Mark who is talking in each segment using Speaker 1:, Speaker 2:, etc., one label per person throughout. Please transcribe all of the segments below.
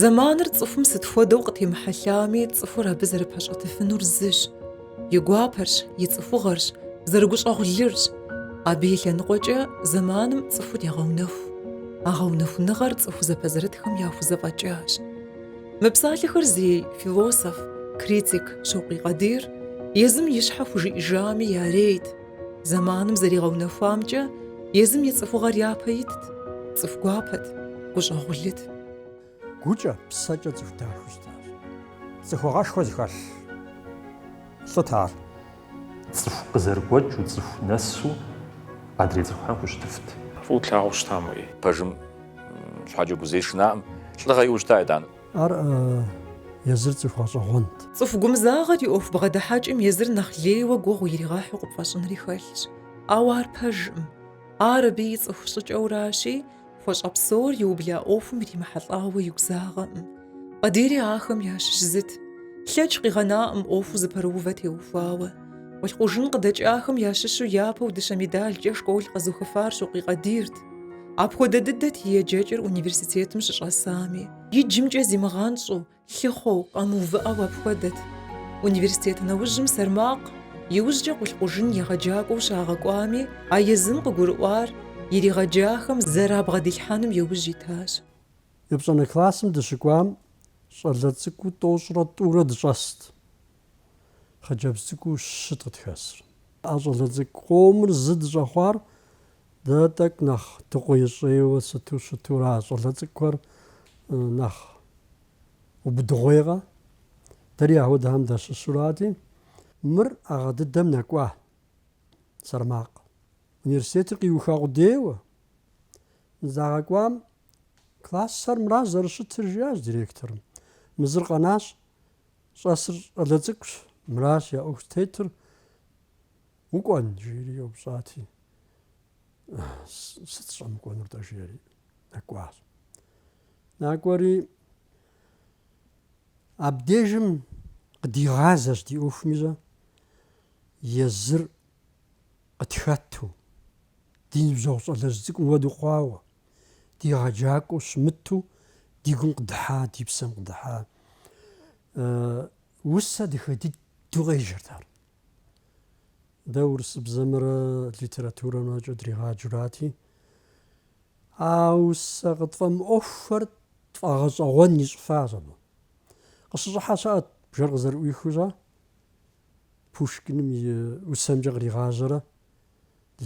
Speaker 1: Зэманыр цӏыхум сыт хуэдэу къытемыхьэлъами, цӏыхур абы зэрыпэщӏэтыфынур зыщ. И гуапэрщ, и цӏыхугъэрщ, зэрыгущӏэгъулырщ. Абы и лъэныкъуэкӏэ зэманым цӏыхур егъэунэху. А гъэунэхуныгъэр цӏыху зэпэзэрытхэм яхузэфӏэкӏащ. Мы псалъэхэр зей философ, критик Щокъуий Къадир езым и щхьэ хужиӏэжами ярейт. Зэманым зэригъэунэхуамкӏэ езым и цӏыхугъэр япэ итт, цӏыху гуапэт, гущӏэгъулыт.
Speaker 2: Гукӏэ, псэкӏэ цӏыху дахэу щытащ. Цӏыхугъэшхуэ зыхэлъ лӏыт ар.
Speaker 3: Цӏыху къызэрыгуэкӏыу, цӏыху нэсу адрей цӏыхухэм хущытыфт. Фӏыуэ тлъагъуу
Speaker 4: щытам, уи. Пэжым
Speaker 5: щхьэкӏэ игу зэи шынаӏым. Лӏыгъэ иӏэу щыта, итӏанэ. Ар
Speaker 2: езыр цӏыху гъэщӏэгъуэнт. Цӏыху
Speaker 1: гумызагъэр и ӏуэху бгъэдыхьэкӏэм езыр нэхъ лейуэ гугъу иригъэхьу къыпфӏэщӏынри хэлъщ. Ауэ ар пэжкъым. Ар абы и цӏыху щӏыкӏэуращи, Хуэщӏэ псор иубла ӏуэхум иримыхьэлӏауэ игу загъэӏым. Къадири ахэм ящыщ зыт. Лъэкӏ къигъэнаӏым ӏуэхуу зыпэрыувэ теухуауэ. Къулъкъужын къыдэкӏахэм ящыщу япэу дыщэ медалкӏэ школ къэзухыфар Щокъуий Къадирт. Апхуэдэ дыдэт и еджэкӏэр университетым щыщӏэсами. Иджымкӏэ зимыгъэнщӏу, Лъыхъуэу, къэмыувыӏэу апхуэдэт. Университет нэужьым Сэрмакъ, иужькӏэ Къулъкъужын егъэджакӏуэу щагъэкӏуами, а езым къыгурыӏуар иригъэджахэм зэрабгъэдилъхьэным иужь итащ.
Speaker 2: Епщӏанэ классым дыщыкӏуам щӏалэ цӏыкӏуу тӏощӏрэ тӏурэ дыщӏэст, хъыджэбз цӏыкӏуу щыт къытхэсыр. А щӏалэ цӏыкӏу къомыр зы дыщӏэхъуар Дэ тӏэкӏу нэхъ дыкъуейщӏейуэ сыту щытурэ, а щӏалэ цӏыкӏухэр нэхъ убыдыгъуейкъэ? Дэри ахуэдэхэм дащыщурати, мыр а гъэ дыдэм нэкӏуа Сэрмакъ. Университетыр къиуха къудейуэ загъэкӏуам классхэр мыращ зэрыщытыр, жиӏащ директорым. Мы зыр къэнащ, щӏэсыр щӏалэ цӏыкӏущ, мыращ я ӏуэху тетыр, Укӏуэн? жиӏэри еупщӏати, Сыт сыщӏэмыкӏуэнур-тӏэ? жиӏэри нэкӏуащ. Накӏуэри абдежым къыдигъазэщ ди ӏуэхум ищӏэ езыр къытхэту, ди ныбжьэгъу щӏалэжь цӏыкӏум хуэдэу хъуауэ, ди егъэджакӏуэу щымыту ди гум къыдыхьа, ди псэм къыдыхьа. Усэ дахэ дыдэу къеджэрт ар. Дэ урысыбзэмрэ литературэмрэкӏэ дригъаджурати, а усэ къытфӏэмыӏуэхухэр тфӏэгъэщӏэгъуэн ищӏыфащ абы. Къыщыщӏыхьэ щыӏэт бжэр къызэрыӏуихыу щӏэ, Пушкиным и усэмкӏэ къригъажьэрэ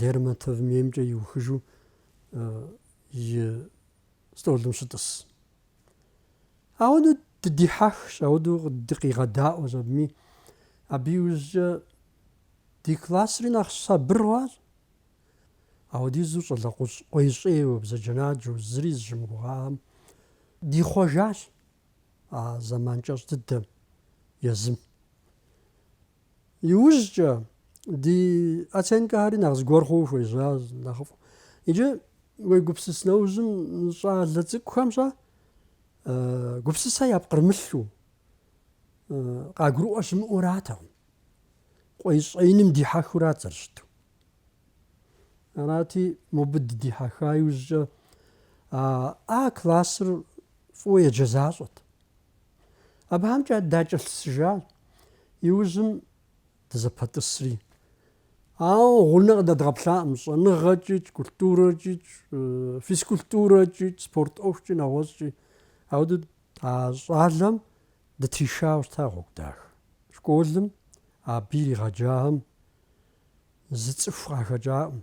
Speaker 2: Лермонтовым еймкӏэ иухыжу и стӏолым щытӏыс. Ауэдэу дыдихьэхщ, ауэдэу дыкъигъэдаӏуэщ абыми. Абы иужькӏэ ди классри нэхъ сабыр хъуащ. Ауэдизу щӏалэ къуейщӏейуэ, бзаджэнаджэу, зыри зыщымыгугъахэм дихъуэжащ а зэман кӏэщӏ дыдэм езым. Иужькӏэ ди оценкэхэри нэхъ зыгуэр хъуу хуежьащ нэхъыфӏ. Иджы уегупсыс нэужьым щӏалэ цӏыкӏухэмщэ гупсысэ япкърымылъу къагурыӏуэ щымыӏуратэкъым. Къуейщӏеиным дихьэхурат зэрыщыту. Арати, мобы дыдихьэха иужькӏэ А классыр фӏыуэ еджэ защӏэт. Абыхэмкӏэ дакӏэлъысыжащ, иужьым дызэпэтӏысри. Ауэ гъунэ къыдэдгъэплъакъым щӏэныгъэкӏикӏ, культурэкӏикӏ, физкультурэкӏикӏ, спорт ӏуэхукӏи, нэгъуэщӏкӏи. Ауэдэу а щӏалэм дытришауэ щыта гъуэгу дахэ. Школым абы иригъэджахэм зы цӏыху къахэкӏакъым.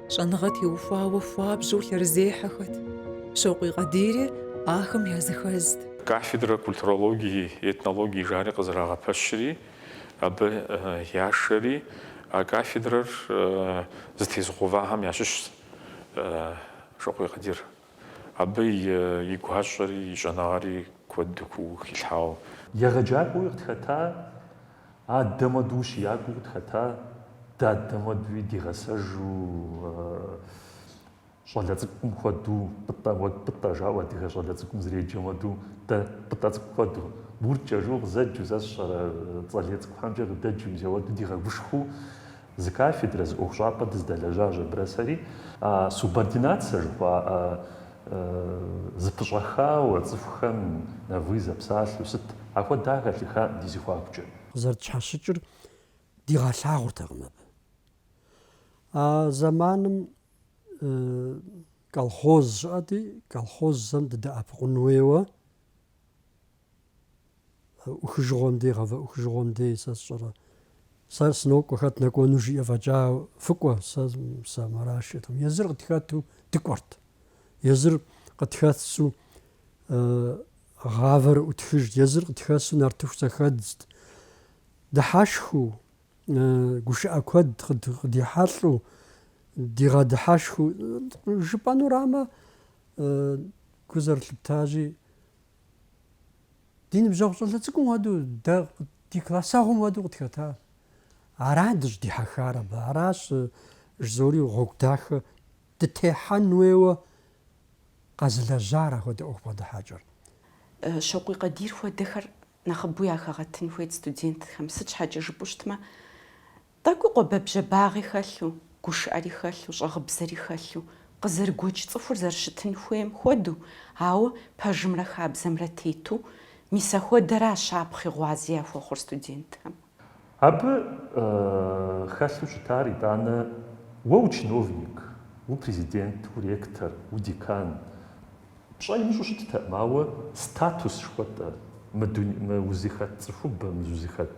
Speaker 1: Щӏэныгъэ теухуауэ хуабжьу лъэрызехьэхэт, Щокъуей Къадири ахэм языхэзт. Кафедрэ
Speaker 4: культурологии, этнологии жари къызэрагъэпэщри, абы яшэри, а кафедрэр зытезыгъэувахэм ящыщщ Щокъуей Къадир. Абы и гуащӏэри и щӏэныгъэри куэду хилъхьауэ.
Speaker 3: Егъэджакӏуэуи къытхэта, адэм хуэду ущиякӏуэуи къытхэта, дадэм хуэдуи дигъэсэжу щӏалэ цӏыкӏум хуэду, Пӏытӏэ, уэ Пӏытӏэ жаӏэу адыгэ щӏалэ цӏыкӏум зэреджэм хуэду, дэ Пӏытӏэ цӏыкӏу хуэду, Гуркӏэ жыу къызэджу, сэ сщӏэрэ цӏэлей цӏыкӏухьэмкӏэ къыдэджу, мис ауэду дигъэгушхуэу, Зы кафедрэ, зы ӏуэхущӏапӏэ дыздэлэжьащ абрэ сэри а субординацэ жыхуаӏэ зыпыщӏэхауэ цӏыхухэм на вы зэпсалъэу сыт, ахуэдэ хэлъыхакъым ди зэхуакукӏэ. Къызэрытщхьэщыкӏыр
Speaker 2: дигъэлъагъуртэкъым абы. А зэманым колхоз щыӏэти, колхозхэм дыдэӏэпыкъун хуейуэ ӏухыжыгъуэм дей, гъэвэӏухыжыгъуэм дей сэ сщӏэрэ. Сэр сынокӏуэ хэт нэкӏуэну жиӏэ фӏэкӏа фыкӏуэ, сэ сэ мыращ жиӏэтэкъым. Езыр къытхэту дыкӏуэрт. Езыр къытхэсу гъавэр ӏутхыжт, езыр къытхэсу нартыху зэхэдзт. Дыхьэшхыу, гушыӏэ куэд къыдихьэлӏу, дигъэдыхьэшхыу жыпӏэнурамэ гу зэрылъыптащи, Ди ныбжьэгъу щӏалэ цӏыкӏум хуэдэу, дэ ди классэгъум хуэдэу къытхэта. Арат дыщӏыдихьэхар абы, аращ жызори гъуэгу дахэ дытехьэн хуейуэ къэзылэжьар ахуэдэ ӏуэху бгъэдыхьэкӏэр.
Speaker 6: Щокъуий Къадир хуэдэхэр нэхъыбэу яхэгъэтын хуейт студентхэм, сыт щхьэкӏэ жыпӏэу щытмэ, Тӏэкӏу къуэбэбжьабагъи хэлъу, гушыӏэри хэлъу, щӏэгъыбзэри хэлъу, къызэрыгуэкӏ цӏыхур зэрыщытын хуейм хуэдэу, ауэ пэжымрэ хабзэмрэ тету, мис ахуэдэращ щапхъи гъуази яхуэхъур студентхэм. Абы
Speaker 3: хэлъу щытар, итӏанэ, уэ учиновник, упрезидент, уректор, удекан, пщӏэ имыщӏу щыттэкъым, ауэ статус жыхуэтӏэр мы узыхэт цӏыхубэм, зузыхэт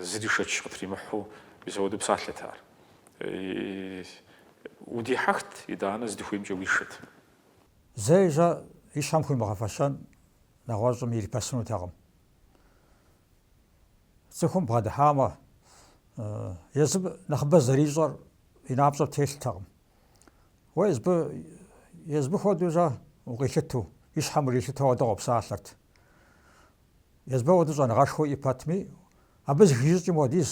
Speaker 4: Зыри шэч къытримыхьу мис ауэду псалъэт ар. Удихьэхт, итӏанэ здыхуеймкӏэ уишэт. Зэи
Speaker 7: жьэ и щхьэм хуимыгъэфэщэн нэгъуэщӏым ирипэсынутэкъым. Цӏыхум бгъэдыхьамэ, езым нэхъыбэ зэрищӏэр и напщӏэм телътэкъым. Уэ езбы, езбы хуэдэу жьэ укъилъыту, и щхьэм урилъытэу ауэдэ къопсалъэрт. Езбы ахуэдэ щӏэныгъэшхуэ иӏэ пэтми, абы зыхищӏыкӏым хуэдиз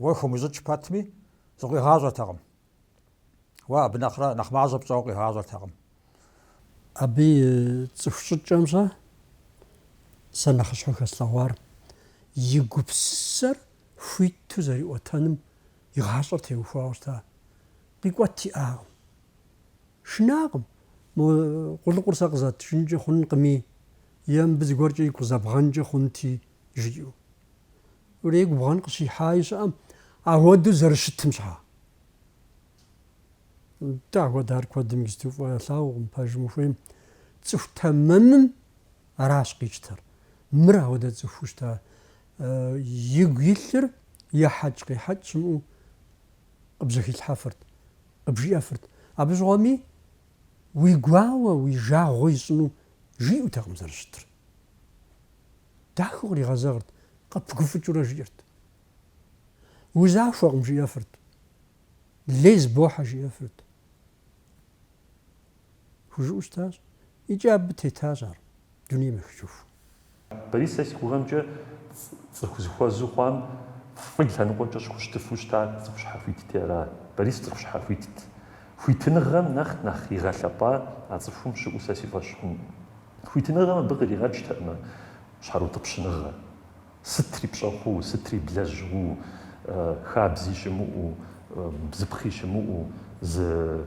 Speaker 7: уэ хумыщӏыкӏ пэтми, зыкъуигъащӏэртэкъым. Уэ абы нэхърэ нэхъ мащӏэ пщӏэуэ къигъащӏэртэкъым.
Speaker 2: Абы и цӏыху щӏыкӏэмкӏэ сэ нэхъыщхьэу хэслъэгъуар, и гупсысэр хуиту зэриӏуэтэным и гъащӏэр теухуауэ щыта. Къикӏуэт иӏакъым. Шынакъым, мо къулыкъур сэ къызатыжынкӏэ хъункъыми, е мыбы зыгуэркӏэ игу къызэбгъэнкӏэ хъунти, жиӏэу. Урей губгъэн къыщихьаи щыӏэм, ауэдэу зэрыщытым щхьа? Нтӏэ, ахуэдэр куэдым иджыпсту фӏы ялъагъукъым, пэжым ухуейм. Цӏыху тэмэмым аращ къищтэр. Мыр ауэдэ цӏыхуу щыта, игу илъыр ехьэкӏ-къехьэкӏ щымыӏэу къыбжьэхилъхьэфырт, къыбжиӏэфырт. Абы щыгъуэми, Уи гуауэ, уи жагъуэ ищӏыну жиӏэутэкъым зэрыщытыр. Дахэу къригъэзэгърт, къыпыгуфӏыкӏыурэ жиӏэрт. Узахуэкъым, жиӏэфырт. Лей зыбохьэ, жиӏэфырт. Хужыӏэу щытащ, икӏи абы тетащ ар, дунейм ехыжыху. Борис
Speaker 3: сэ си гугъэмкӏэ цӏыху зыхуэзу хъуам фӏы лъэныкъуэкӏэ щыхущытыфу щыта цӏыху щхьэхуитти ара? Борис цӏыху щхьэхуитт. Хуитыныгъэм нэхъ нэхъ игъэлъэпӏа а цӏыхум щыӏэу сэ си фӏэщ хъункъым. Хуитыныгъэм абы къригъэкӏтэкъымэ щхьэрыутӏыпщыныгъэ. Сытри пщӏэ хъуу, сытри блэжьу, хабзи щымыӏэу, бзыпхъи щымыӏэу, зы.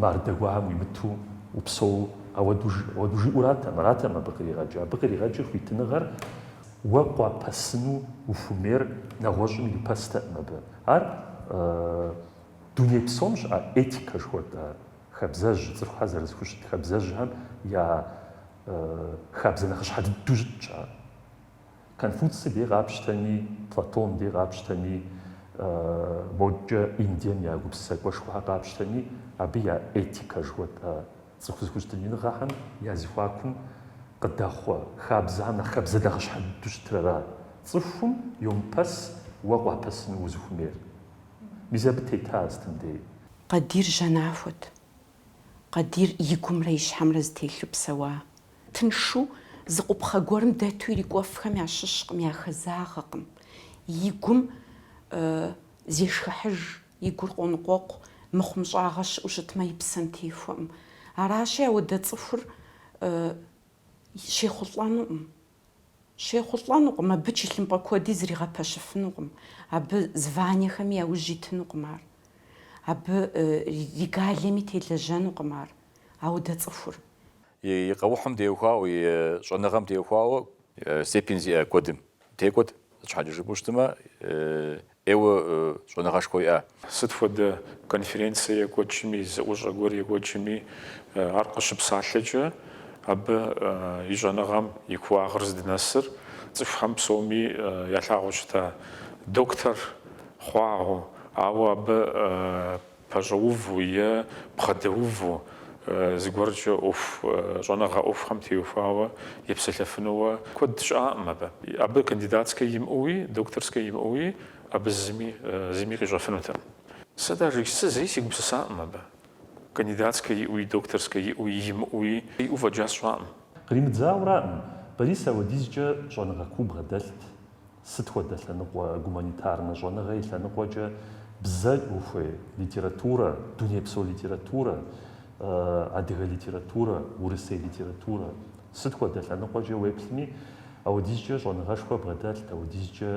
Speaker 3: Мардэ гуэрым уимыту упсэу, ауэду жиӏэу аратэкъым, аратэкъым абы къригъэкӏыр. Абы къригъэкӏыр хуитыныгъэр уэ къуапэсыну ухуэмейр нэгъуэщӏым ирипэстэкъым абы. Ар дуней псом щыӏэ этикэ жыхуэтӏэ хабзэжь, цӏыхухэр зэрызэхущыт хабзэжьхэм я хабзэ нэхъыщхьэ дыдэу щытщ ар. Конфуций дей къапщтэми, Платон дей къапщтэми, модкӏэ Индием я гупсысэкӏуэшхуэхэр къапщтэми, абы я этикэ жыхуэтӏэ цӏыху зэхущытыныгъэхэм я зэхуакум къыдэхъуэ хабзэхэм нэхъ хабзэ нэхъыщхьэ дыдэу щытыр ара? Цӏыхум йомыпэс уэ къуапэсыну узыхуэмейр. Мис абы тета сытым дей. Къадир
Speaker 6: жьэнахуэт. Къадир и гумрэ и щхьэмрэ зэтелъу псэуа. Тыншу зы къупхъэ гуэрым дэту ирикӏуэфхэм ящыщкъым, яхэзагъэкъым. И гум зешхыхьыж, и гур къоныкъуэкъу, мыхъумыщӏагъэ щыӏэу щытмэ, и псэм техуэкъым. Аращи, ауэдэ цӏыхур щехъулӏэнукъым. Щехъулӏэнукъым, абы чылъымпӏэ куэди зригъэпэщыфынукъым, абы званиехэми яужь итынукъым ар, абы регалиями телэжьэнукъым ар, ауэдэ цӏыхур.
Speaker 5: И къэухьым теухуауэ, и щӏэныгъэм теухуауэ степень зиӏэ куэдым текӏуэт, сыт щхьэкӏэ жыпӏэу щытмэ, ӏейуэ щӏэныгъэшхуэ иӏа. Сыт
Speaker 4: хуэдэ конференцэ екӏуэкӏми, зэӏущӏэ гуэр екӏуэкӏми, ар къыщыпсалъэкӏэ, абы и щӏэныгъэм и куууагъыр здынэсыр цӏыхухэм псоми ялъагъуу щыта доктор хъуагъэу, ауэ абы пэщӏэуву е бгъэдэуву, зыгуэркӏэ ӏуэху щӏэныгъэ ӏуэхухэм теухуауэ епсэлъэфынууэ куэд щыӏакъым абы. Абы кандидатскэ имыӏэуи, докторскэ имыӏэуи абы зыми зыми къищӏэфынутэкъым. Сэ даже, сэ зэи сегупсысакъым абы. Кандидатскэ иӏэуи, докторскэ иӏэуи, имыӏэуи иӏэу фӏэкӏа сщӏакъым. Къримыдзауэраӏым,
Speaker 3: Борис апхуэдизкӏэ щӏэныгъэ куу бгъэдэлът. Сыт хуэдэ лъэныкъуэ? Гуманитарнэ щӏэныгъэ и лъэныкъуэкӏэ бзэ ухуей, литературэ, дунейпсо литературэ, адыгэ литературэ, урысей литературэ. Сыт хуэдэ лъэныкъуэкӏэ уеплъми, апхуэдизкӏэ щӏэныгъэшхуэ бгъэдэлът, апхуэдизкӏэ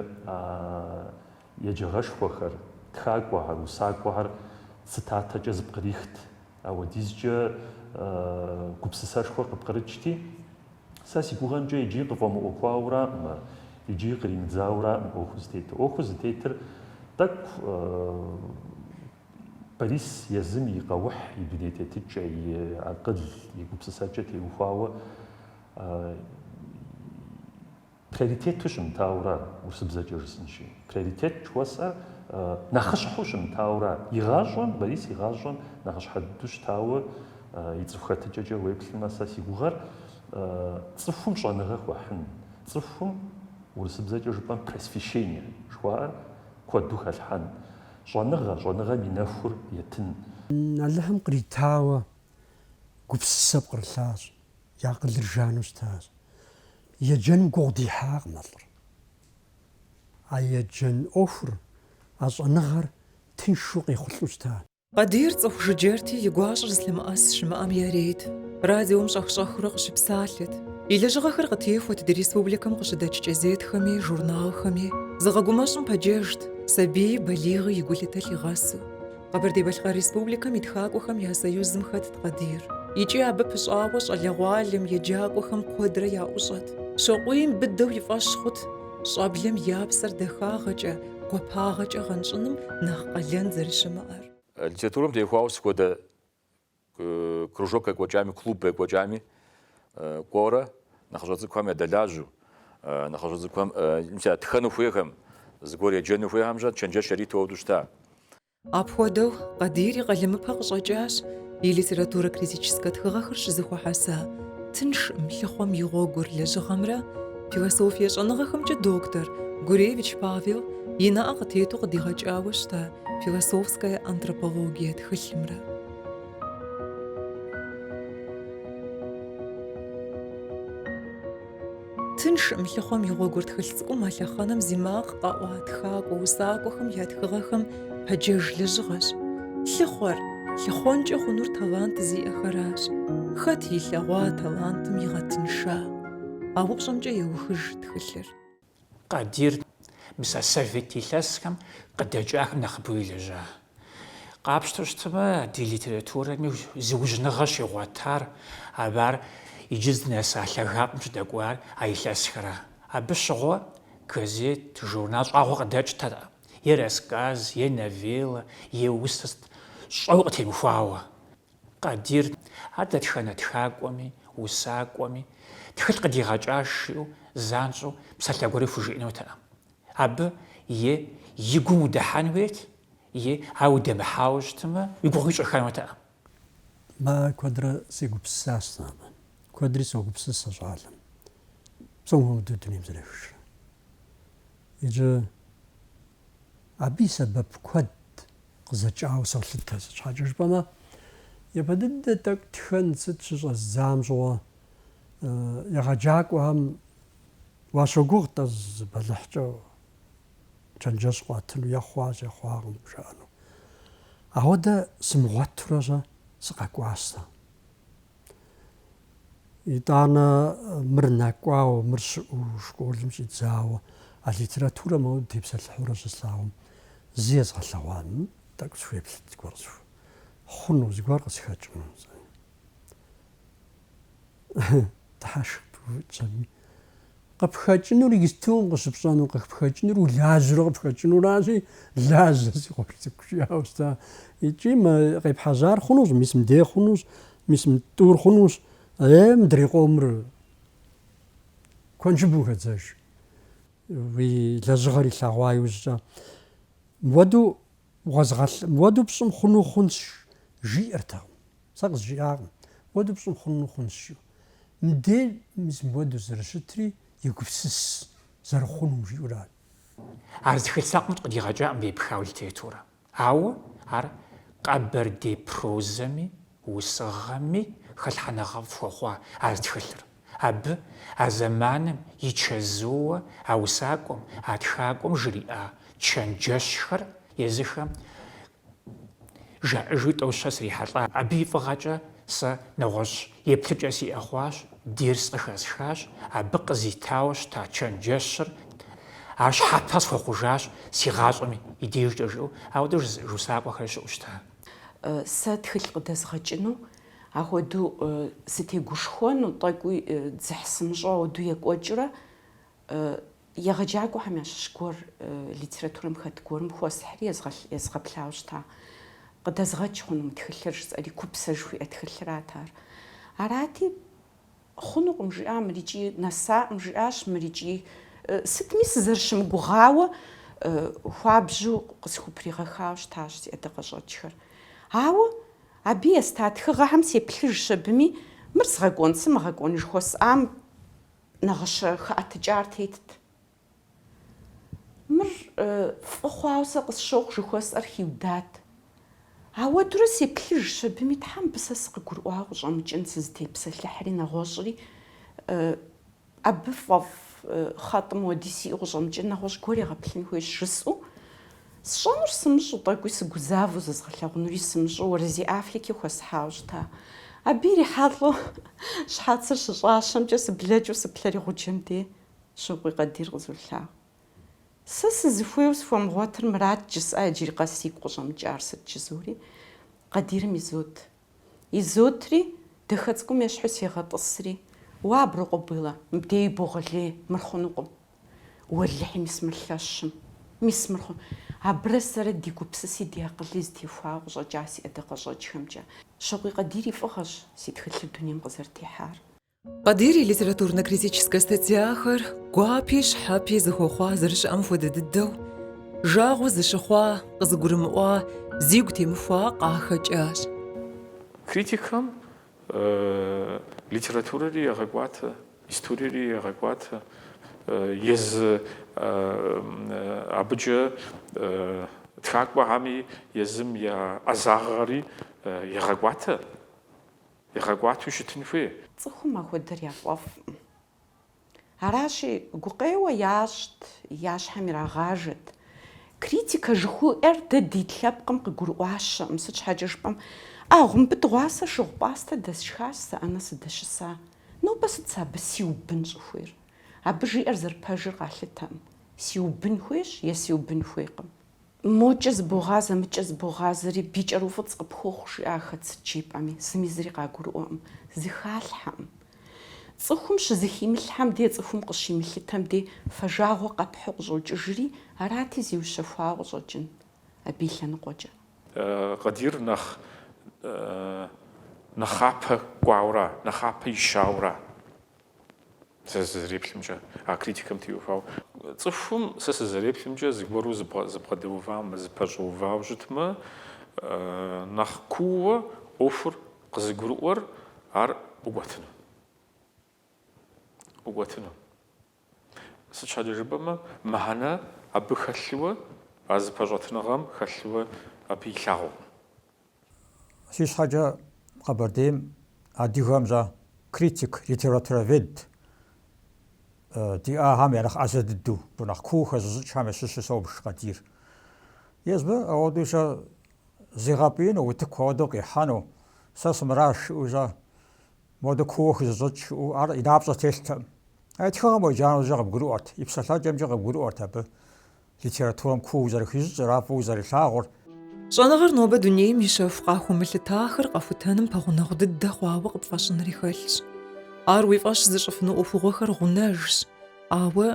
Speaker 3: еджэгъэшхуэхэр, тхакӏуэхэр, усакӏуэхэр цитатэкӏэ зэпкърихт. Ауэдизкӏэ гупсысэшхуэр къыпкърыкӏти, сэ си гугъэмкӏэ иджы къыфӏэмыӏуэхуауэраӏым, иджы къримыдзауэраӏым ӏуэхуу зытетыр. ӏуэхуу зытетыр тӏэкӏу Борис езым и къэухь, и дуней тетыкӏэ, и акъыл, и гупсысэкӏэ теухуауэ Приоритету щымытауэра, урысыбзэкӏэ жысӏынщи, приоритет жыхуэсӏэр нэхъыщхьэу щымытауэра, игъащӏэм, Борис игъащӏэм нэхъыщхьэ дыдэу щытауэ и цӏыху хэтыкӏэкӏэ уеплъмэ, сэ си гугъэр цӏыхум щӏэныгъэ хуэхьын, цӏыхум, урысыбзэкӏэ жыпӏэм, просвещение жыхуаӏэр куэду хэлъхьэн, щӏэныгъэ, щӏэныгъэм и нэхур етын. Алыхьым
Speaker 2: къритауэ гупсысэ пкърылъащ, и акъылыр жану щытащ. Еджэным гугъу дихьакъым а лӏыр. А еджэн ӏуэхур, а щӏэныгъэр тыншу къехъулӏэу щыта. Къадир цӏыху
Speaker 1: жыджэрти, и гуащӏэр зылъэмыӏэс щымыӏэм ярейт. Радиом щӏэх-щӏэхыурэ къыщыпсалъэт. И лэжьыгъэхэр къытехуэт ди республикэм къыщыдэкӏ кӏэзетхэми, журналхэми. Зыгъэгумэщӏым пэджэжт, сабийи балигъи и гулъытэ лъигъэсу. Къэбэрдей-Балъкъэр Республикэм и тхакӏуэхэм я союзым хэтт Къадир. Икӏи абы пыщӏауэ щӏалэгъуалэм еджакӏуэхэм куэдрэ яӏущӏэт. Щокъуийм быдэу и фӏэщ хъут щӏэблэм я псэр дахагъэкӏэ, гуапагъэкӏэ гъэнщӏыным нэхъ къалэн зэрыщымыӏэр. Литературэм теухуауэ
Speaker 5: сыт хуэдэ Кружок екӏуэкӏами, клуб екӏуэкӏами кӏуэурэ нэхъыщӏэ цӏыкӏухэм ядэлажьэу, нэхъыщӏэ цӏыкӏухэм тхэну хуейхэм, зыгуэр еджэну хуейхэмкӏэ чэнджэщ яриту ауэдэу щыта. Апхуэдэу
Speaker 1: Къадир и къалэмыпэ къыщӏэкӏащ и литературэ-критическэ тхыгъэхэр щызэхуэхьэса Тыншкъым лъыхъуэм и гъуэгур лэжьыгъэмрэ философие щӏэныгъэхэмкӏэ доктор Гуревич Павел и нэӏэ къытету къыдигъэкӏауэ щыта философская антропология тхылъымрэ. Тыншкъым лъыхъуэм и гъуэгур тхылъ цӏыкӏум а лъэхъэнэм зи макъ къэӏуа тхакӏуэ усакӏуэхэм я тхыгъэхэм пэджэж лэжьыгъэщ. Лъыхъуэр, лъыхъуэнкӏэ хъунур талант зиӏэхэращ. Хэт илъэгъуа талантым игъэтынша? А упщӏэмкӏэ еухыж тхылъыр.
Speaker 8: Къадир, мис а совет илъэсхэм къыдэкӏахэм нэхъыбэу елэжьа. Къапщтэу щытмэ, ди литературэми зыужьыныгъэ щигъуэтар, абы ар иджы здынэса лъагапӏэм щыдэкӏуар а илъэсхэр. Абы щыгъуэ газет, журнал щӏагъуэ къыдэкӏтэкъым, е рассказ, е новеллэ, е усэ сыт щӏэуэ къытемыхуауэ. Къадир, ар дэтхэнэ тхакӏуэми, усакӏуэми, тхылъ къыдигъэкӏаш жиӏэу занщӏэу псалъэ гуэри хужиӏэнутэкъым. Абы е и гум удыхьэн хуейт, е ар удэмыхьауэ щытмэ, уи гугъу ищӏыхэнутэкъым. Мэ ар
Speaker 2: куэдрэ сегупсысащ сэ абы. Куэдри согупсыс а щӏалэм. Псом хуэмыдэу дунейм зэрехыжрэ. Иджы. Абы и сэбэп куэд къызэкӏауэ солъытэ. Сыт щхьэкӏэ жыпӏэмэ, япэ дыдэ тӏэкӏу тхэн сыт щыщӏэздзам щыгъуэ егъэджакӏуэхэм уащогугъ тӏэ зы бэлыхькӏэ чэнджэщ къуатыну, е хъуащ, е хъуакъым жаӏэну. Ауэдэ сымыгъуэтурэ щэ сыкъэкӏуащ сэ. Итӏанэ мыр нэкӏуауэ, мыр щыӏэу школым щӏидзауэ, а литературэ моуэ тепсэлъыхьурэ щыслъагъум, зы езгъэлъэгъуам тӏэкӏу схуеплъыт зыгуэр хъуну, зыгуэр къысхэкӏыну. Тхьэ пыупщӏэми, Къыпхэкӏынур иджыпсту къыщыпщӏэну, къыпхэкӏынур улажьэурэ къыпхэкӏынуращи, лажьэ, си къуэш цӏыкӏу, жиӏауэ щыта. Икӏи мы къепхьэжьар хъунущ, мис мыдей хъунущ, мис мы тӏур хъунущ. Е, мыдрей къомыр куэншыбым хэдзэж, уи лэжьыгъэр илъэгъуа иужькӏэ. Мыуэду. Уэзгъэлъ, мыуэду пщӏым хъуну хъунщ, жиӏэртэкъым. Сэ къызжиӏакъым, мыуэду пщӏым хъуну хъунщ жиӏэу. Мыдей мис мыуэду зэрыщытри, егупсыс, зэрыхъунум жиӏэурат. Ар
Speaker 8: зы тхылъ закъуэм къыдигъэкӏакъым епхауэ литературэ. Ауэ ар къэбэрдей прозэми, усыгъэми хэлъхьэныгъэфӏ хуэхъуа а зы тхылъыр. Абы а зэманым и чэзууэ а усакӏуэм, а тхакӏуэм жриӏа чэнджэщхэр езыхэм жаӏэжу тӏэу-щэ срихьэлӏа. Абы и фӏыгъэкӏэ сэ нэгъуэщӏ еплъыкӏэ сиӏэ хъуащ, дерс къыхэсхащ, абы къызитауэ щыта чэнджэщыр ар щхьэпэ схуэхъужащ си гъащӏэм и дежкӏэ жиӏэу, ауэдэ жызыӏэж усакӏуэхэр щыӏэу щыта. Сэ
Speaker 6: тхылъ къыдэзгъэкӏыну Ахуэдэу сытегушхуэну тӏэкӏуи дзыхь сымыщӏэу ауэду екӏуэкӏурэ егъэджакӏуэхэм ящыщ гуэр литературэм хэт гуэрым хуэсхьри езгъэплъауэ щыта. Къыдэзгъэкӏ хъуну мы тхылъыр жысӏэри, Купсэ жыхуиӏэ тхылъырат ар. Арати, Хъунукъым, жиӏа мыр икӏи нэсакъым, жиӏащ мыр икӏи. Сытми сызэрыщымыгугъауэ хуабжьу къысхупригъэхауэ щытащ си ӏэдакъэщӏэкӏхэр. Ауэ абы еста тхыгъэхэм сеплъыжщ абыми, мыр згъэкӏуэн сымыгъэкӏуэн жыхуэсӏам нэгъыщэ хэӏэтыкӏар тетт. Мыр фӏы хъуауэ сэ къысщохъу жыхуэсӏэр хиудат. Ауэдурэ сеплъыжщ абыми, Тхьэ мыбы сэ сыкъыгурыӏуауэ къыщӏэмыкӏын, сызытепсэлъыхьри нэгъуэщӏри, абы фӏэфӏ хъэтӏым хуэди сиӏэу къыщӏэмыкӏын, нэгъуэщӏ гуэр егъэплъын хуейщ, жысӏэу, сщӏэнур сымыщӏэу, тӏэкӏуи сыгузавэу, зэзгъэлъэгъунури сымыщӏэу, Уэрэзей Афлик хуэсхьауэ щыта. Абы ирихьэлӏэу щхьэцыр щыщӏащэмкӏэ сыблэкӏыу сыплъэри гъуджэм де. Щокъуей Къадир къызолъагъу. Сэ сызыхуейуэ схуэмыгъуэтыр мырат жысӏа иджыри къэс сигу къыщӏэмыкӏар сыт жызори, Къадирым изот. Изотри, дахэ цӏыкӏум ещхьу сегъэтӏысри, Уа, Аброкъуэ Бэллэ, мыбдей ибогъэлей, мыр хъунукъым. Уэлэхьи, мис мыр лъэщым. Мис мыр хъун. Абырэ сэрэ ди гупсыси ди акъыли зытехуауэ къыщӏэкӏа си ӏэдакъэщӏэкӏхэмкӏэ. Щокъуей Къадир и фӏыгъэщ си тхылъыр дунейм къызэрытехьар. Къадир
Speaker 1: и литературно-критическэ статьяхэр гуапи щхьэпи зыхуэхъуа зэрыщыӏэм хуэдэ дыдэу, жагъуэ зыщыхъуа, къызыгурымыӏуа, зигу темыхуа къахэкӏащ.
Speaker 4: Критикхэм литературэри егъэкӏуатэ, историери егъэкӏуатэ, езы абыкӏэ тхакӏуэхэми, езым я ӏэзагъэри егъэкӏуатэ. Игъэкӏуату щытын хуей. Цӏыхум
Speaker 6: ахуэдэр яфӏэфӏкъым. Аращи, гукъеуэ ящӏт, я щхьэм ирагъажэт. Критикэ жыхуиӏэр дэ ди лъэпкъым къыгурыӏуащэкъым, сыт щхьэкӏэ жыпӏэм, Агъу, мыбы дыгъуасэ шыгъу пӏастэ дэсшхащ сэ ӏэнэ сыдэщыса. Нобэ сыт сэ абы сиубын щӏыхуейр? Абы жиӏэр зэрыпэжыр къалъытэкъым. Сиубын хуейщ е сиубын хуейкъым. Мокӏэ зыбогъазэ, мыкӏэ зыбогъазэри, бий кӏэруфӏыцӏ къыпхуохъу, жиӏахэт сыт жепӏэми, зыми зыри къагурыӏуэкъым, зыхалъхьэкъым. Цӏыхум щызыхимылъхьэм дей цӏыхум къыщимылъытэм дей фэжагъуэ къэпхьу къыщӏокӏыжри, арати зиущэхуауэ къыщӏэкӏын абы и лъэныкъуэкӏэ. Къадир нэхъ
Speaker 4: нэхъапэ кӏуауэра, нэхъапэ ищауэра? Сэ сызэреплъымкӏэ, а критикэм теухуауэ. Цӏыхум, сэ сызэреплъымкӏэ, зыгуэру зыбгъэдэувамэ, зыпэщӏэувауэ щытмэ, нэхъ куууэ ӏуэхур къызыгурыӏуэр ар ӏукӏуэтыну. ӏукӏуэтыну. Сыт щхьэкӏэ жыпӏэмэ, мыхьэнэ абы хэлъууэ, а зыпэщӏэтыныгъэм хэлъууэ абы илъагъукъым.
Speaker 7: Си щхьэкӏэ Къэбэрдейм адыгэм щэ критик, литературовед диӏахэм я нэхъ ӏэзэ дыдэу, нэхъ куу хэзыщӏыкӏхэм ящыщу собж Къадир. Езбы ауэдэу щэ зигъэпӏиину, утыку ауэдэу къихьэну, сэ сымыращ жиӏэу щэ модэу куууэ хызощӏыкӏ жиӏэу ар и напщӏэ телътэкъым. А и тхыгъэм уеджанэу щэ къыбгурыӏуэрт, и псэлъэкӏэмкӏэ къыбгурыӏуэрт абы. Литературэм куууэ зэрыхищӏыкӏыр, ар фӏыуэ зэрилъагъур.
Speaker 1: Щӏэныгъэр нобэ дунейм и щэху къахуэмылъытахэр къэхутэным пэгъунэгъу дыдэ хъуауэ къыпфӏэщӏынри хэлъщ. Ар уи фӏэщ зыщӏыфыну ӏуэхугъуэхэр гъунэжщ. Ауэ,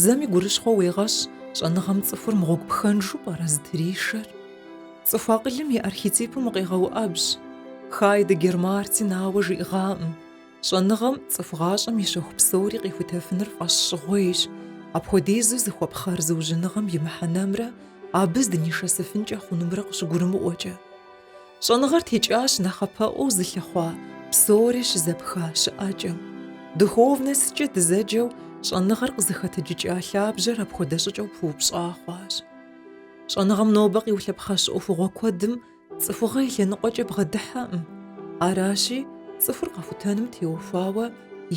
Speaker 1: зэми гурыщхъуэ уегъэщ, щӏэныгъэм цӏыхур мыгъуэгу пхэнжу пӏэрэ зытришэр? Цӏыху акъылым и архетипым укъегъэуӏэбжь. Хайдеггер Мартин ауэ жиӏэгъакъым. Щӏэныгъэм цӏыху гъащӏэм и щэху псори къихутэфыныр фӏэщ щӏыгъуейщ. Апхуэдизу зыхуэпхъэр зыужьыныгъэм и мыхьэнэмрэ абы здынишэсыфынкӏэ хъунумрэ къыщыгурымыӏуэкӏэ. Щӏэныгъэр текӏащ нэхъапэӏуэу зылъыхъуа псори щызэпха щыӏэкӏэм. Духовностькӏэ дызэджэу щӏэныгъэр къызыхэтыджыкӏа лъабжьэр апхуэдэ щӏыкӏэу пыупщӏа хъуащ. Щӏэныгъэм нобэ къиулъэпхъэщ ӏуэхугъуэ куэдым Цӏыхугъэ и лъэныкъуэкӏэ бгъэдыхьэкъым. Аращи, цӏыхур къэхутэным теухуауэ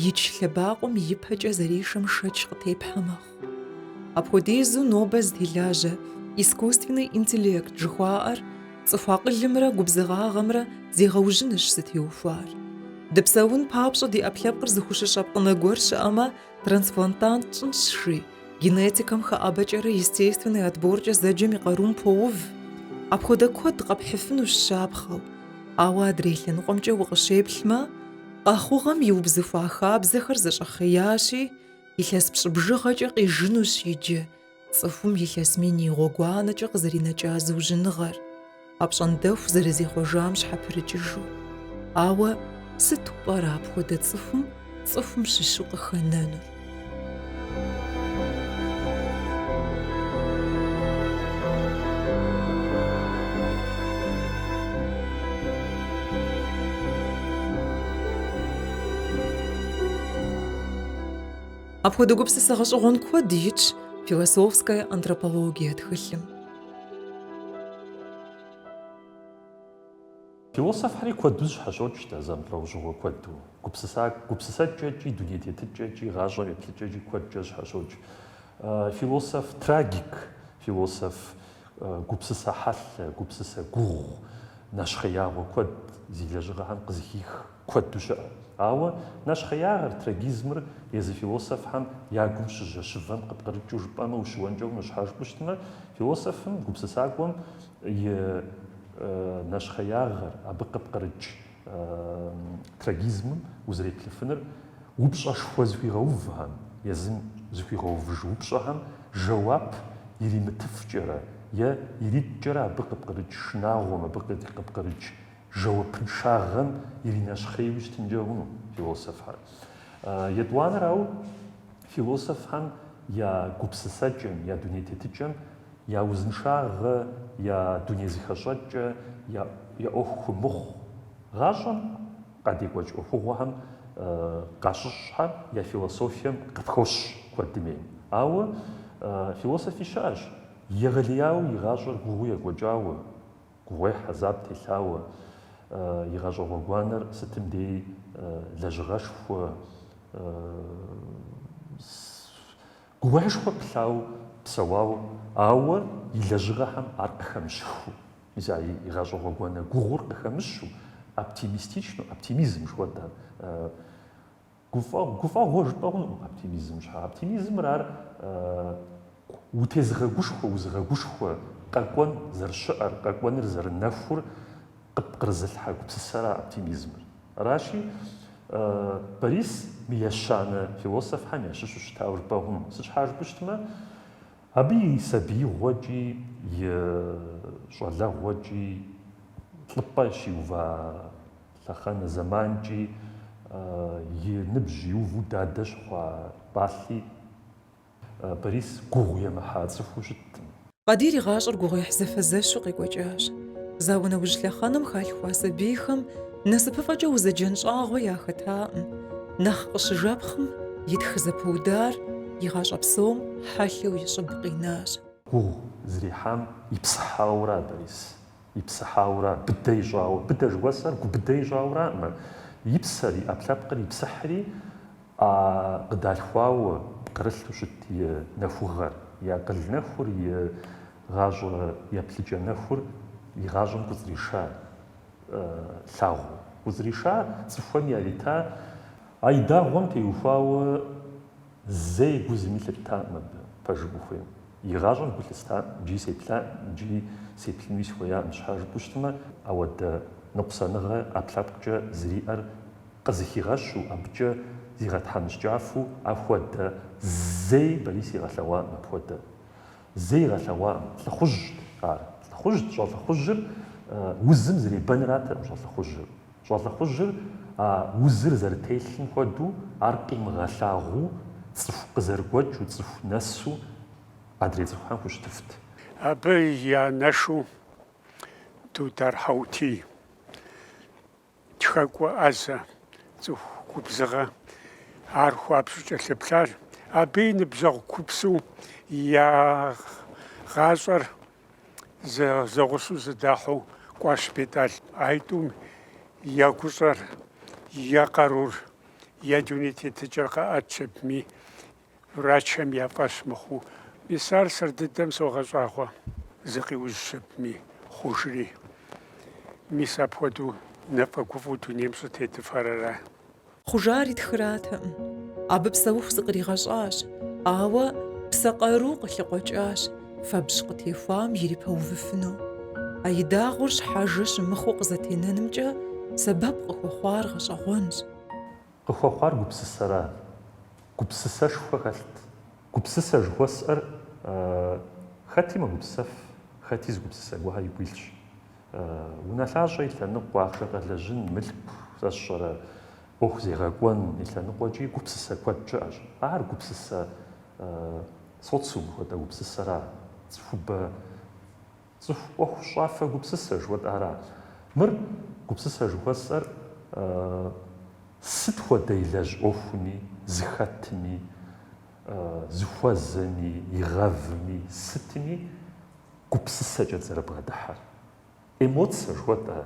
Speaker 1: ич лъэбакъуэм ипэкӏэ зэришэм шэч къытепхьэ мэхъу. Апхуэдизу нобэ зытелажьэ искусственный интеллект жыхуаӏэр цӏыху акъылымрэ губзыгъагъэмрэ зегъэужьынырщ зытеухуар. Дыпсэун папщӏэ ди ӏэпкълъэпкъыр зыхущыщӏэ пкъынэ гуэр щыӏэмэ, Трансплантант тщӏынщ жи, генетикэм хэӏэбэкӏэрэ естественный отборкӏэ зэджэм и къарум поув. Апхуэдэ куэд къэпхьыфынущ щапхъэу. Ауэ адрей лъэныкъуэмкӏэ укъыщеплъмэ, къэхъугъэм иубзыхуа хабзэхэр зэщӏэхъеящи, илъэс пщӏы бжыгъэкӏэ къижынущ иджы, Цӏыхум илъэс мин и гъуэгуанэкӏэ къызэринэкӏа зыужьыныгъэр, апщӏондэху зэрызехъуэжам щхьэпрыкӏыжу. Ауэ сыту пӏэрэ апхуэдэ цӏыхум цӏыхум щыщу къыхэнэнур? Апхуэдэ гупсысэ гъэщӏэгъуэн куэд итщ философская антропологие
Speaker 3: тхылъым. Философхэри куэду зэщхьэщокӏ дэ зэмылӏэужьыгъуэ куэду. Гупсысэкӏэкӏи, дуней тетыкӏэкӏи, гъащӏэм еплъыкӏэкӏи куэдкӏэ зэщхьэщокӏ. Философ трагик, философ гупсысэ хьэлъэ, гупсысэ гугъу, нэщхъеягъуэ куэд зи лэжьыгъэхэм къызыхих. Куэду щыӏэ. Ауэ нэщхъеягъэр, трагизмыр езы философхэм я гум щыжьэщывэм къыпкърыкӏыу жыпӏэмэ, ущыуэнкӏэ хъуну, щхьэ жыпӏэу щытмэ, философым, гупсысакӏуэм и нэщхъеягъэр, абы къыпкърыкӏ трагизмым узэреплъыфыныр упщӏэшхуэ зыхуигъэувхэм, езым зыхуигъэувыж упщӏэхэм жэуап иримытыфкӏэрэ е ириткӏэрэ абы къыпкърыкӏ шынагъуэм, абы къыпкърыкӏ жэуапыншагъэм иринэщхъейуи щытынкӏэ хъуну философхэр. Етӏуанэрауэ, философхэм я гупсысэкӏэм, я дуней тетыкӏэм я узыншагъэ, я дуней зыхэщӏэкӏэ, я ӏуэху хумыхъу гъащӏэм къадекӏуэкӏ ӏуэхугъуэхэм къащыщӏхэм я философием къыпхощ куэдым ейм. Ауэ философи щыӏэщ, егъэлеяуэ и гъащӏэр гугъуу екӏуэкӏауэ, Гугъуехь хьэзаб телъауэ, и гъащӏэ гъуэгуанэр сытым дей лэжьыгъэшхуэ, гугъуехьышхуэ пылъауэ псэуауэ, ауэ и лэжьыгъэхэм ар къыхэмыщхыу, мис а и гъащӏэ гъуэгуанэ гугъур къыхэмыщу, оптимистичну, оптимизм жыхуэтӏэ, Гуфӏэгъу, гуфӏэгъуэ жыпӏэ хъунукъым оптимизм щхьа. Оптимизмыр ар утезыгъэгушхуэ, узыгъэгушхуэ къэкӏуэн зэрыщыӏэр, къэкӏуэныр зэрынэхур къыпкърызылъхьэ гупсысэра оптимизмыр. Аращи, Борис мы ещанэ философхэм ящыщу щытауэ жыпӏэ хъуну. Сыт щхьа жыпӏэу щытмэ, абы и сабиигъуэкӏи, и щӏалэгъуэкӏи лӏыпӏэ щиува, Лъэхъэнэ зэманкӏи и ныбжь иуву дадэ щыхъуа пӏалъи Борис гугъу емыхьа цӏыхуу щыткъым. Къадир и гъащӏэр
Speaker 1: гугъуехь зэфэзэщу къекӏуэкӏащ. Зауэ нэужь лъэхъэнэм халъхуа сабийхэм насыпыфӏэкӏэ узэджэн щӏагъуэ яхэтакъым. Нэхъ къыщыжэпхъым, и тхы зэпыудар и гъащӏэ псом хьэлъэу и щӏыб къинащ. Гугъу
Speaker 3: зэрехьам ипсыхьауэра Борис? Ипсыхьауэра, быдэ ищӏауэ. Быдэ жыхуэсӏэр губыдэ ищӏауэракъымэ. И псэр, и ӏэпкълъэпкъыр ипсыхьри, а къыдалъхуауэ, пкърылъу щыт и нэхугъэр, и акъыл нэхур, и гъащӏэ еплъыкӏэ нэхур и гъащӏэм кӏуцӏриша лъагъуу. Кӏуцӏриша цӏыхухэм ярита, а и дагъуэм теухуауэ, Зэи гу зыми лъыттакъым абы, пэжым ухуейм. Игъащӏэм гу лъыстакъым, иджыри сеплъакъым, иджыри сеплъынуи сыхуеякъым, щхьэ жыпӏэу щытмэ, ауэдэ ныкъусаныгъэ ӏэпкълъэпкъкӏэ зэриӏэр къызыхигъэщу, абыкӏэ зигъэтхьэмыщкӏафу, ахуэдэ зэи Борис игъэлъэгъуакъым, апхуэдэ зэи игъэлъэгъуакъым, лӏыхъужьт ар, лӏыхъужьт, щӏэлӏыхъужьыр узым зэребэныратэкъым щӏэлӏыхъужьыр. Щӏэлӏыхъужьыр а узыр зэрытелъым хуэдэу ар къимыгъэлъагъуу, цӏыху къызэрыгуэкӏыу, цӏыху нэсу адрей цӏыхухэм хущытыфт. Абы
Speaker 9: и анэшу Дудар Хьэутий тхэкӏуэ ӏэзэ, цӏыху губзыгъэ, ар хуабжьу кӏэлъыплъар, абы и ныбжьэгъу купсу я гъащӏэр зэгъусэу зыдахьэу Кӏуащ Бетӏал. А итӏум я гущӏэр, я къарур, я дуней тетыкӏэр къэӏэт жыпӏэми, врачхэм я фӏэщ мыхъуу, мис ар сэр дыдэм согъэщӏагъуэ, зыкъиужь жыпӏэми, хъужри. Мис апхуэдэу нэфӏэгуфӏу дунейм щӏытетыфар ара?
Speaker 1: Хъужари тхратэкъым. Абы псэуху зыкъригъэщӏащ, ауэ псэ къару къылъыкъуэкӏащ, фэбжь къытехуам ирипэувыфыну. А и дагъуэр щхьэжэ щымыхъуу къызэтенэнымкӏэ сэбэп къыхуэхъуар гъэщӏэгъуэнщ.
Speaker 3: Къыхуэхъуар гупсысэра? Гупсысэшхуэ хэлът. Гупсысэ жыхуэсӏэр хэти мэгупсэф, хэти зы гупсысэ гуэхэ игу илъщ. Унэлъащӏэ и лъэныкъуэ ахъшэ къэлэжьын, мылъку сэ сщӏэрэ, ӏуэху зегъэкӏуэн и лъэныкъуэкӏи гупсысэ куэд щыӏэщ. Ар гупсысэ социум хуэдэ гупсысэра, цӏыхубэ цӏыху ӏуэхущӏафэ гупсысэ жыхуэтӏара? Мыр гупсысэ жыхуэсӏэр сыт хуэдэ илэжь ӏуэхуми, зыхэтми, зыхуэзэми, игъэвми, сытми гупсысэкӏэт зэрыбгъэдыхьэр. Эмоцэ жыхуэтӏэ,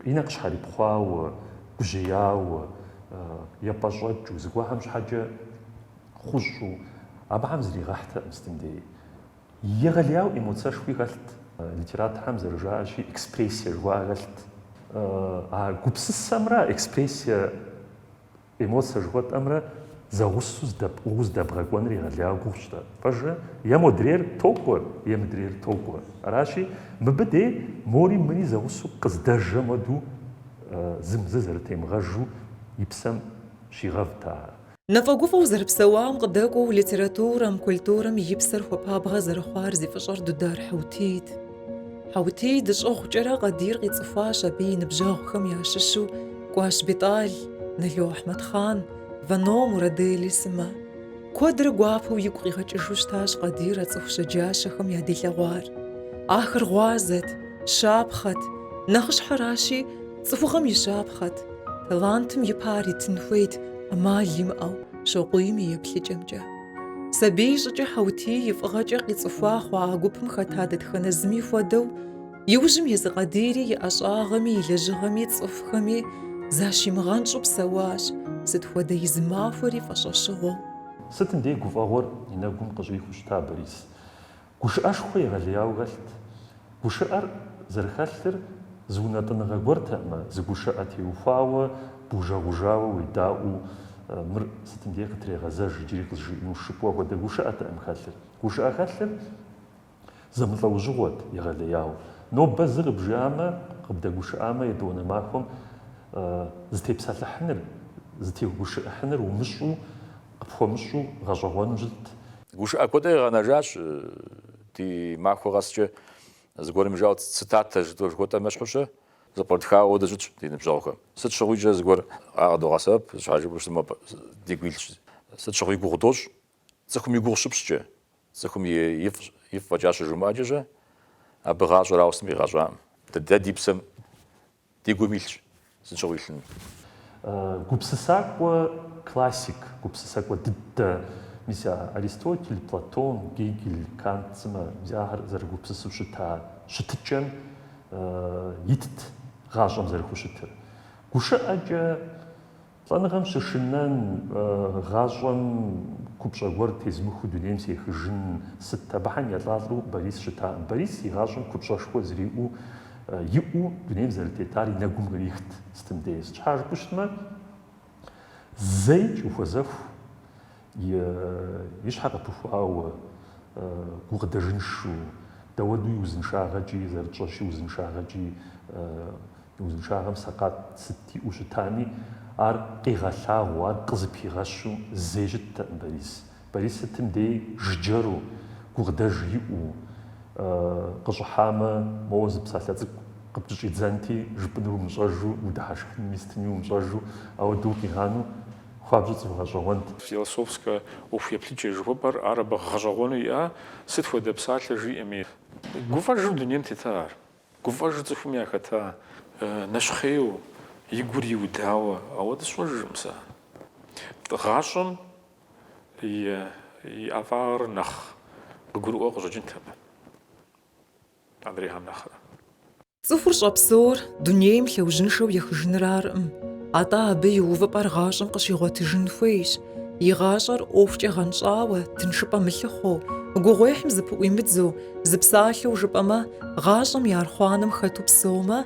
Speaker 3: и нэ къыщхьэрипхъуауэ, гужьеяуэ, епӏэщӏэкӏыу, зыгуэхэм щхьэкӏэ хъущӏу, абыхэм зригъэхьтэкъым сытым дей. Егъэлеяуэ эмоцэшхуи хэлът, литераторхэм зэрыжаӏэщи, экспрессие жыхуаӏэ хэлът. А гупсысэмрэ экспрессие Эмоцэ жыхуэтӏэмрэ зэгъусэу здэпӏыгъыу здэбгъэкӏуэныр егъэлеяуэ гугъущ-тӏэ. Пэжрэ, е модрейр токӏуэ, е мыдрейр токӏуэ. Аращи, мыбы дей мори мыри зэгъусэу къыздэжэм хуэдэу зым зы зэрытемыгъэжу и псэм щигъэвт ар.
Speaker 1: Нэфӏэгуфӏэу зэрыпсэуам къыдэкӏуэу литературэм, культурэм и псэр хуэпабгъэ зэрыхъуар зи фӏыщӏэр Дудар Хьэутийт. Хьэутий дэщӏыгъукӏэрэ Къадир къицӏыхуащ абы и ныбжьэгъухэм ящыщу Кӏуащ Бетӏал, Нало Ахьмэдхъан, Вано Мурадели сымэ. Куэдрэ гуапэу игу къигъэкӏыжу щытащ Къадир а цӏыху щэджащэхэм ядилъэгъуар. Ахэр гъуазэт, щапхъэт, нэхъыщхьэращи, цӏыхугъэм и щапхъэт, талантым и пэ ар итын хуейт ӏэмал имыӏэу, Щокъуийм и еплъыкӏэмкӏэ. Сабий щӏыкӏэ Хьэутий и фӏыгъэкӏэ къицӏыхуа хъуа а гупым хэта дэтхэнэ зыми хуэдэу, иужьым езы Къадири и ӏэщӏагъэми и лэжьыгъэми цӏыхухэми защимыгъэнщӏу псэуащ, сыт хуэдэ и зы махуэри фӏэщӏэщыгъуэу. Сытым дей
Speaker 3: гуфӏэгъуэр и нэгум къыщӏихыу щыта Борис. Гушыӏэшхуэ егъэлеяуэ хэлът. Гушыӏэр зэрыхэлъыр зы унэтӏыныгъэ гуэртэӏымэ, зы гушыӏэ теухуауэ, бужэгъужауэ уедаӏуу, мыр сытым дей къытрегъэзэж, иджыри къызжиӏэну жыпӏэу ахуэдэ гушыӏэтэӏым хэлъыр. Гушыӏэ хэлъыр зэмылӏэужьыгъуэт, егъэлеяуэ. Нобэ зы къыбжиӏамэ, къыбдэгушыӏамэ, етӏуанэ махуэм зытепсэлъыхьыныр, зытегушыӏыхьыныр умыщӏу, къыпхуэмыщӏу гъэщӏэгъуэну
Speaker 5: щытт.
Speaker 3: Гушыӏэ куэд
Speaker 5: къигъэнэжащ
Speaker 3: ди
Speaker 5: махуэ къэскӏэ, зыгуэрым жаӏэу цитатэ жыхуэтӏэм ещхьущэ, зэпкърытхауэ дыщытщ ди ныбжьэгъухэм. Сыт щыгъуикӏэ зыгуэр къыдогъэсэбэп, сыт щхьэ жыпӏэмэ дигу илъщ, сыт щыгъуи гугъу дощӏ, цӏыхум и гугъу щыпщӏкӏэ, цӏыхум ифӏ фӏэкӏа щыжумыӏэкӏэщэ, абы гъащӏэр ауэ сытми къигъэщӏакъым. Дэ ди псэм Ди гум илъщ сыт щыгъуи илъыну.
Speaker 3: Гупсысакӏуэ классик, гупсысакӏуэ дыдэ, мис а Аристотель, Платон, Гегель, Кант сымэ мис ахэр зэрыгупсысу щыта щытыкӏэм итт гъащӏэм зэрыхущытыр. Гушыӏэкӏэ Лӏэныгъэм щышынэн, гъащӏэм купщӏэ гуэр тезмыхыу дунейм сехыжын, сыт, абыхэм елӏалӏэу Борис щытакъым. Борис и гъащӏэм купщӏэшхуэ зриӏэу, иӏэу дунейм зэрытетар и нэгум кърихт, сытым деж. Щхьэ жыпӏэу щытмэ, зэикӏ ухуэзэху. И щхьэ къыпыхуауэ, гукъыдэжыншэу, дауэду и узыншагъэкӏи, зэрытщӏэщи узыншагъэкӏи, и узыншагъэм сэкъат сыт иӏэу щытами, ар къигъэлъагъуу, ар къызыпигъэщу зэи щыттэкъым Борис. Борис сытым деи жыджэру, гукъыдэж иӏэу, къыщӏыхьамэ, моуэ зы псалъэ цӏыкӏу къыпкӏыщӏидзэнти, жыпӏэнур умыщӏэжу, удыхьэшхынуми сытыми умыщӏэжу, ауэдэу укъигъану? хуабжьу цӏыху гъэщӏэгъуэнт.
Speaker 4: Философскэ ӏуэху еплъыкӏэ жыхуэпӏэр ар абы гъэщӏэгъуэну иӏа? Сыт хуэдэ псалъэ жиӏэми, гуфӏэжу дунейм тета ар, гуфӏэжу цӏыхум яхэта, нэщхъейу, и гур иудауэ, ауэдэ сщӏэжыркъым сэ. Гъащӏэм и ӏэфӏагъыр нэхъ къыгурыӏуэ къыщӏэкӏынт абы, адрейхэм нэхърэ.
Speaker 1: Цӏыхур щӏэпсэур дунейм лъэужьыншэу ехыжыныр аркъым, атӏэ абы и увыпӏэр гъащӏэм къыщигъуэтыжын хуейщ, и гъащӏэр ӏуэхукӏэ гъэнщӏауэ, тыншыпӏэ мылъыхъуэу, гугъуехьым зыпыӏуимыдзэу, зы псалъэу жыпӏэмэ, гъащӏэм и архъуанэм хэту псэумэ,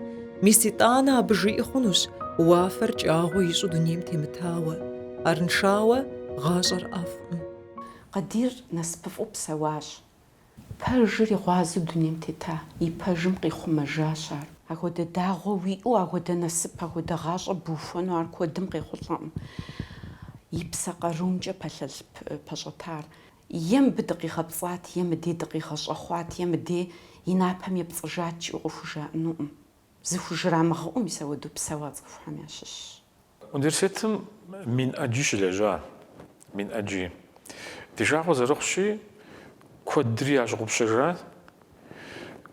Speaker 1: мис итӏанэ абы жиӏэ хъунущ уафэр кӏагъуэ ищӏу дунейм темытауэ. Арыншауэ, гъащӏэр ӏэфӏкъым. Къадир
Speaker 6: насыпыфӏу псэуащ. Пэжыр и гъуазэу дунейм тета, и пэжым къихъумэжащ ар. Ахуэдэ дагъуэ уиӏэу, ахуэдэ насып, ахуэдэ гъащӏэ бухуэну ар куэдым къехъулӏэкъым и псэ къарумкӏэ пэлъэлъ пэщӏэтар. Е мыбы дыкъигъэпцӏат, е мыдей дыкъигъэщӏэхъуат, е мыдей и напэм епцӏыжат жиӏэу къыхужаӏэнукъым. Зыхужрамыгъэӏэу мис ахуэдэу псэуа цӏыхухэм ящыщщ.
Speaker 4: Университетым мин ӏэджи щылэжьа, мин ӏэджи. Ди жагъуэ зэрыхъущи, куэдри ящыгъупщэжат,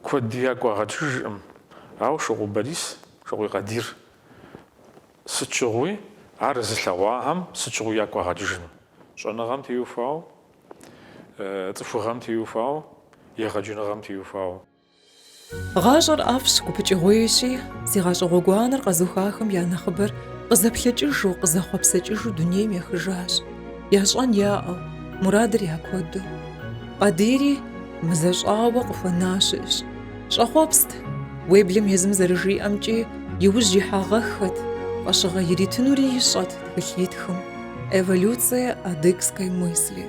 Speaker 4: куэдри ягу къагъэкӏыжкъым. Ауэ Шокъу Борис, Шокъуий Къадир, сыт щыгъуи, ар зылъэгъуахэм сыт щыгъуи ягу къагъэкӏыжыну. Щӏэныгъэм теухуауэ, цӏыхугъэм теухуауэ, егъэджэныгъэм теухуауэ.
Speaker 1: Гъащӏэр ӏэфӏщ, гупыкӏыгъуейщи, зи гъащӏэ гъуэгуанэр къэзыухахэм я нэхъыбэр къызэплъэкӏыжу, къызэхъуэпсэкӏыжу дунейм ехыжащ, ящӏэн яӏэу, мурадыр я куэду. Къадири мызэщӏауэ къыхуэна щыӏэщ. Щӏэхъуэпст, уеблэм езым зэрыжиӏэмкӏи, иужь ихьагъэххэт, фӏэщыгъэ иритынури ищӏэт тхылъ итхым, Эволюция адыгской мысли.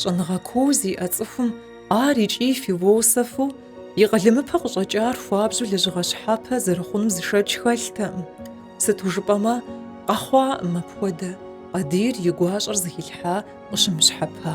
Speaker 1: Щӏэныгъэ куу зиӏэ цӏыхум ар икӏи философу, и къалэмыпэ къыщӏэкӏар хуабжьу лэжьыгъэ щхьэпэ зэрыхъунум зы шэч хэлътэкъым. Сыту жыпӏэмэ, къэхъуакъым апхуэдэ, Къадир и гуащӏэр зыхилъхьа къыщымыщхьэпа.